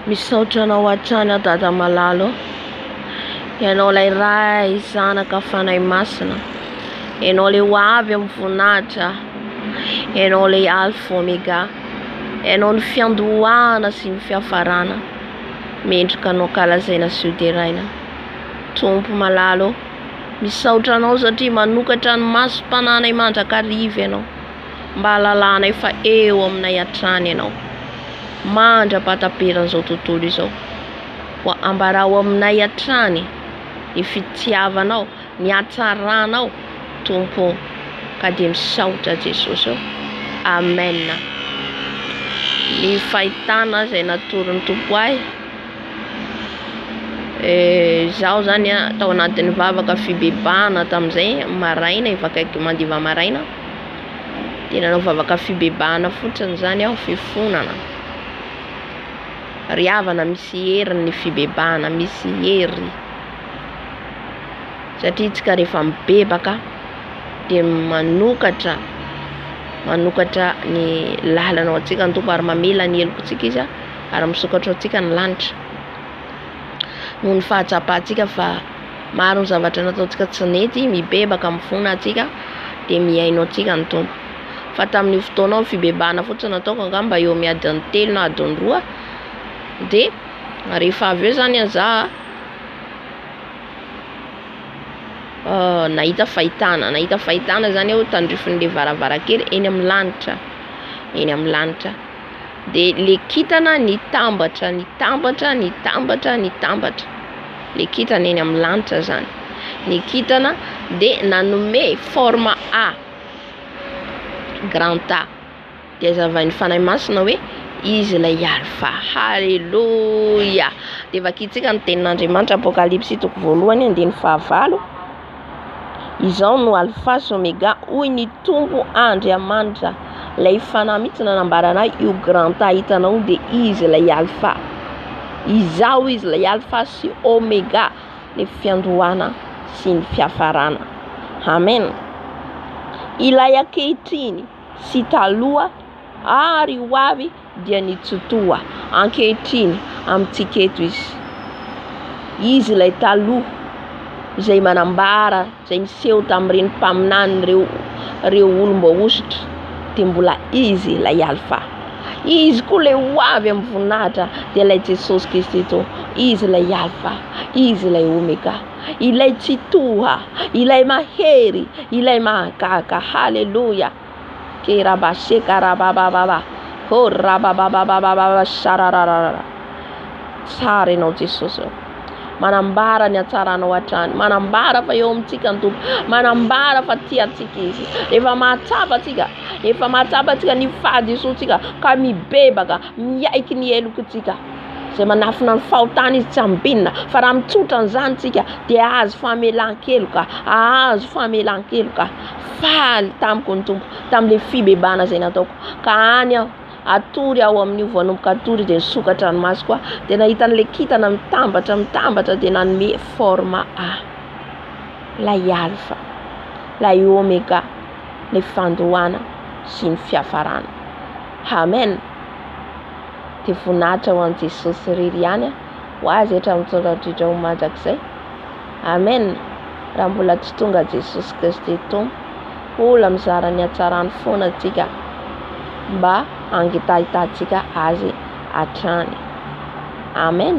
Misaotra anao hatrany aho dada malalo Ianao ilay ray zanaka fanahy masina Ianao ilay ho avy amin'ny voninahitra Ianao ilay alfa omega Ianao ny fiandohana sy ny fiafarana Mendrika anao kalazaina sy hoderaina Tompo malalo Misaotra anao satria manokatra ny maso tananay mandrakariva ianao mba hahalalanay fa eo aminay hatrany ianao. Mandra-pahataperan' izao tontolo izao. Koa ambarao aminay hatrany ny fitiavanao, ny hatsaranao Tompo ô. Ka dia misaotra Jesosy ô. Amen. Ny fahitana izay natoron'ny Tompo ahy. Izaho izany an, tao anatin'ny vavaka fibebahana tamin'izay maraina efa akaiky mandiva maraina dia nanao vavaka fibebahana fotsiny izany aho fifonana ry havana misy hery ny fibebahana misy hery satria isika rehefa mibebaka dia manokatra manokatra ny lalana ho antsika ny Tompo ary mamela ny heloka antsika izy a ary misokatra ao antsika ny lanitra noho ny fahatsapantsika fa maro ny zavatra nataontsika tsy nety mibebaka amin'ny fona antsika dia mihaino antsika ny tompo fa tamin'io fotoana ao fibebahana fotsiny nataoko angamba eo amin'ny adiny telo na adiny roa dia rehefa avy eo zany aza nahita fahitana nahita fahitana zany aho tandrifin'le varavarankely eny amin'ny lanitra eny amin'ny lanitra dia le kintana nitambatra nitambatra nitambatra nitambatra le kintana eny amin'ny lanitra zany ny kintana dia nanome forme A grand A dia azavain'ny fanahy masina hoe izy ilay alpha haleloia dia vakintsika ny tenin'Andriamanitra apokalypsy toko voalohany andininy fahavalo Izaho no Alfa sy Omega, hoy ny Tompo Andriamanitra. Ilay Fanahy mihitsy nanambara an'ahy, io Granta hitanao dia Izy ilay Alfa. Izaho Izy ilay Alfa sy Omega, ny fiandohana sy ny fiafarana. Amen. Ilay ankehitriny sy taloha ary ho avy. dia nitsotoha ankehitriny amintsika eto izy. Izy ilay taloha izay manambara, izay niseho tamin'ireny mpaminany ireo, ireo olom-boahosotra, dia mbola izy ilay alfa. Izy koa ilay ho avy amin'ny voninahitra dia ilay Jesosy Kristy to. Izy ilay alfa, izy ilay omega, ilay tsitoha, ilay mahery, ilay mahagaga. Haleloia! Keraba seka rababababa. Oh rababababababa sararararara. Tsara ianao Jesosy oh. Manambara ny hatsaranao hatrany. Manambara fa eo amintsika ny Tompo. Manambara fa tia antsika izy. Efa mahatsapa antsika. Efa mahatsapa antsika ny fahadisoantsika ka mibebaka, miaiky ny helokontsika. Izay manafina ny fahotana izy tsy ambinina fa raha mitsotra an'izany tsika dia ahazo famelan-keloka, ahazo famelan-keloka. Faly tamiko ny Tompo tamin'ilay fibebahana izay nataoko ka any aho hatory ao amin'io vao hanomboka hatory dia nisokatra ny masoko aho dia nahita an'ilay kintana mitambatra mitambatra dia nanome forme ahy lay alpha lay omega ny fandohana sy ny fiafarana amen dia voninahitra ho an'i Jesosy irery ihany ho azy hatramin'ny taona hatramin'ny taona mandrakizay Amen raha mbola tsy tonga Jesosy Kristy Tompo Ola mizara ny hatsarany foana antsika mba hangitahitantsika Azy hatrany Amen.